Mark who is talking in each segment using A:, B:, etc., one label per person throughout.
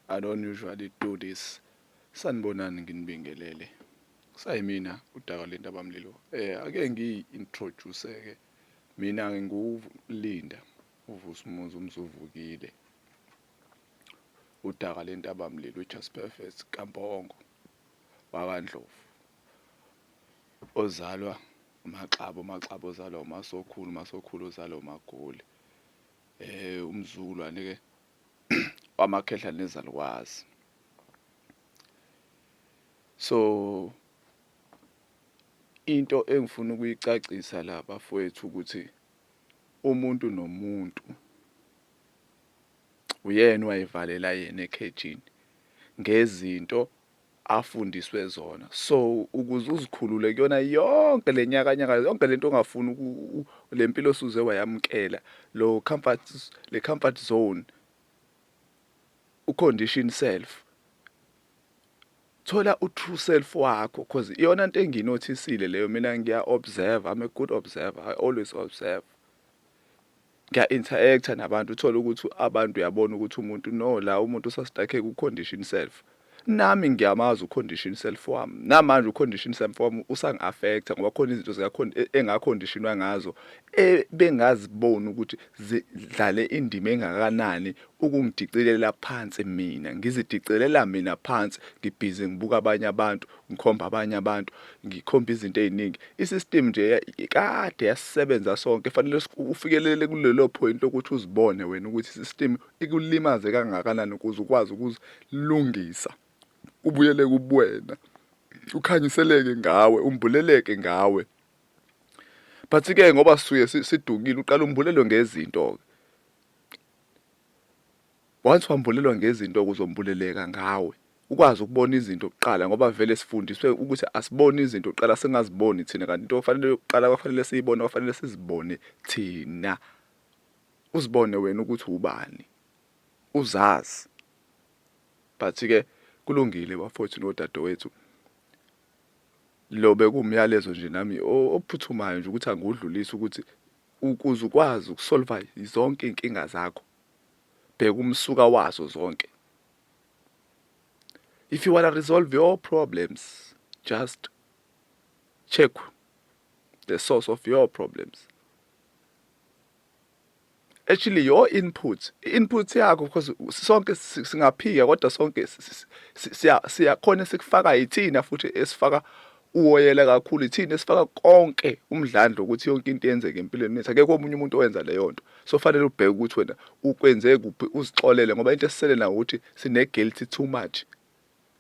A: I don't usually do this. Sanibonani nginibingelele. Kusayimina udaka lendaba mlilo. Eh ake ngiyi introduce ke. Mina ngingulinda uvusumuzi umzuvukile. Udaka lentaba mlilo just perfect kamponggo. BakaNdlovu. Ozalwa uMaxabo, uMaxabo ozalwa uMasokhulu, uMasokhulu ozalwa uMagoli. eh umzukulwane ke wamakhehla nezalukwazi so into engifuna ukuyicacisa la bafowethu ukuthi umuntu nomuntu uyena wayevalela yena ekhejini ngezinto afundiswe zona so ukuze uzikhulule kuyona yonke lenyakanyaka yonke lento ongafuni lempilo osuze wayamkela lo comfort le comfort zone u condition self thola u true self wakho because iyona into enginothisile leyo mina ngiya observe i'm a good observer i always observe ngiya interact nabantu uthola ukuthi abantu uyabona ukuthi umuntu no la umuntu usastakhe ku condition self nami ngiyamazi ucondition self wami namanje ucondition self wami usangi affecta ngoba khona izinto zika e, engaconditionwa ngazo ebengaziboni ukuthi zidlale indima engakanani ukungidicilela phansi mina ngizidicelela mina phansi ngibhizi ngibuka abanye abantu ngikhomba abanye abantu ngikhomba izinto eziningi isystem nje kade yasisebenza sonke fanele ufikelele kulelo point lokuthi uzibone wena ukuthi isystem ikulimaze kangakanani ukuze ukwazi ukuzilungisa ubuyele kubuwena ukhanyiseleke ngawe umbuleleke ngawe but ke ngoba suye sidukile uqala umbulelo ngezinto ke Once wambulelwa ngezinto kuzombuleleka ngawe ukwazi ukubona izinto kuqala ngoba vele sifundiswe ukuthi asibone izinto kuqala singaziboni thina kanti into ofanele yokuqala kwafanele siyibone kwafanele sizibone thina uzibone wena ukuthi ubani uzazi but ke kulungile bafowethu nodadewethu lo bekumyalezo nje nami ophuthumayo nje ukuthi angudlulise ukuthi ukuze ukwazi ukusolva zonke inkinga zakho Bheka umsuka wazo zonke. If you wanna resolve your problems, just check the source of your problems. Actually your input, input yakho because sonke singaphika kodwa sonke siyakhona sikufaka yithina futhi esifaka uwoyela kakhulu ithina esifaka konke umdlandla ukuthi yonke into yenzeke empilweni yethu akekho omunye umuntu owenza leyo nto so fanele ubheke ukuthi wena ukwenze kuphi uzixolele ngoba into esisele nayo ukuthi sine guilty too much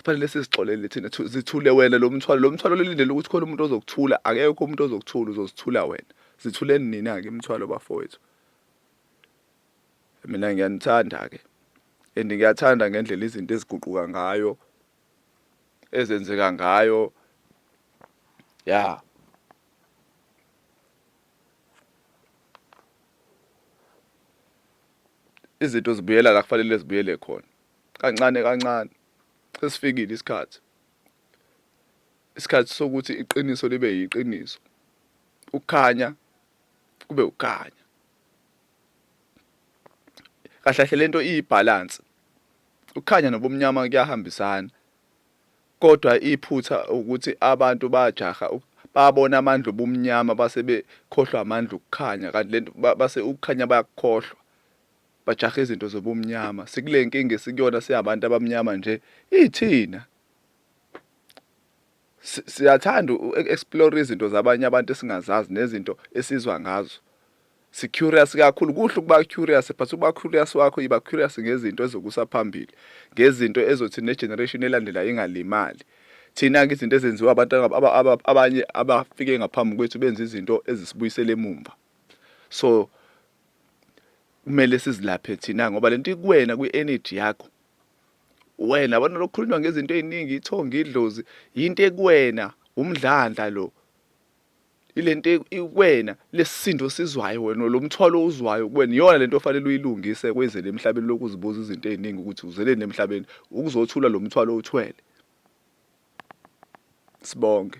A: fanele sizixolele thina zithule wena lo mthwalo lo mthwalo lelindele ukuthi khona umuntu ozokuthula akekho umuntu ozokuthula uzozithula wena zithuleni nina ke imthwalo bafowethu mina ngiyanithanda ke and ngiyathanda ngendlela izinto eziguquka ngayo ezenzeka ngayo ya izinto zibuyela la kufanele zibuyele khona kancane kancane sesifikile isikhathi isikhathi sokuthi iqiniso libe yiqiniso ukukhanya kube ukukhanya kahle kahle lento iyibalance Ukukhanya nobumnyama kuyahambisana kodwa iphutha ukuthi abantu bajaha babona amandla obumnyama base bekhohlwa amandla okukhanya kanti lento base ukukhanya bayakukhohlwa bajaha izinto zobumnyama sikule nkinga esikuyona siyabantu abamnyama nje ithina siyathanda uku-explore izinto zabanye abantu esingazazi nezinto esizwa ngazo si-curious kakhulu kuhle ukuba curious but ukuba curious wakho yiba curious ngezinto ezokusa phambili ngezinto ezothi ne-generation elandela ingalimali thina-ke izinto ezenziwa abantu abanye abafike ngaphambi kwethu benza izinto ezisibuyisela emumva so kumele sizilaphe thina ngoba le nto ikuwena kwi-energy yakho wena yabona lokukhulunywa ngezinto eziningi ithonga idlozi yinto ekuwena umdlandla lo ilento ikwena lesisindo sizwayo wena lo mthwalo uzwayo kuwena iyona lento ofanele uyilungise kwezele emhlabeni lokuzibuza izinto eziningi ukuthi uzeleni emhlabeni ukuzothula lo mthwalo uthwele sibonge